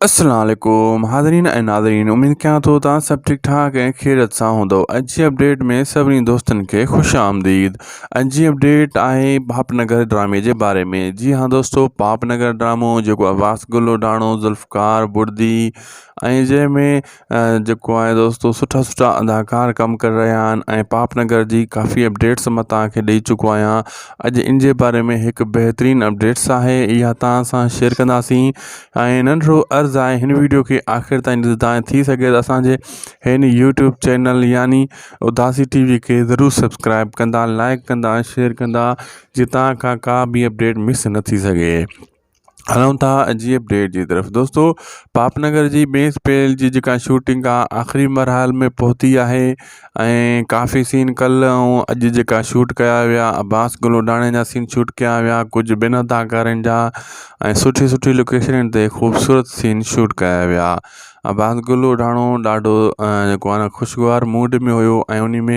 السلام عليڪم حاضرين ۽ ناظرين اميد ڪيان ٿو توهان سڀ ٺيڪ ٺاڪ ۽ خيرت سان هوندو اڄ جي اپڊيٽ ۾ سڀني دوستن کي خوش آمديد اڄ جي اپڊيٽ آهي پاپ نگر ڊرامي جي باري ۾ جي ها دوستو پاپ نگر ڊرامو جيڪو عباس گلوڊاڻو ذوالفقار بڙدي ۽ جنهن ۾ جيڪو آهي دوستو سٺا سٺا اداڪار ڪم ڪري رهيا آهن ۽ پاپ نگر جي ڪافي اپڊيٽس مان تاکي ڏئي چڪو آهيان اڄ ان جي باري ۾ هڪ بهترين اپڊيٽس آهي اها تان سان شيئر ڪنداسين ۽ ننڍڙو عرض آهي هن ويڊيو کي آخر تائين ڏسو تان ٿي سگهي ته اسانجي هن يوٽيوب چينل يعني اداسي ٽي وي کي ضرور سبسڪرائب ڪندا لائڪ ڪندا شيئر ڪندا جي تان کان ڪا به اپڊيٽ مس نه ٿي سگهي هلون ٿا عجيب ڊيٽ جي طرف دوستو پاپ نگر جي ٻي اسپيل جي جيڪا شوٽنگ آ آخري مرحل ۾ پهتي آهي ۽ ڪافي سين ڪل ۽ اڄ جيڪا شوٽ ڪيا ويا عباس گلوڊاڻي جا سين شوٽ ڪيا ويا ڪجهه بنا اداڪارن جا ۽ سٺي سٺي لوڪيشن تي خوبصورت سين شوٽ ڪيا ويا عباس گلوڊاڻو ڏاڍو جيڪو آ نه خوشگوار موڊ ۾ هيو ۽ ان ۾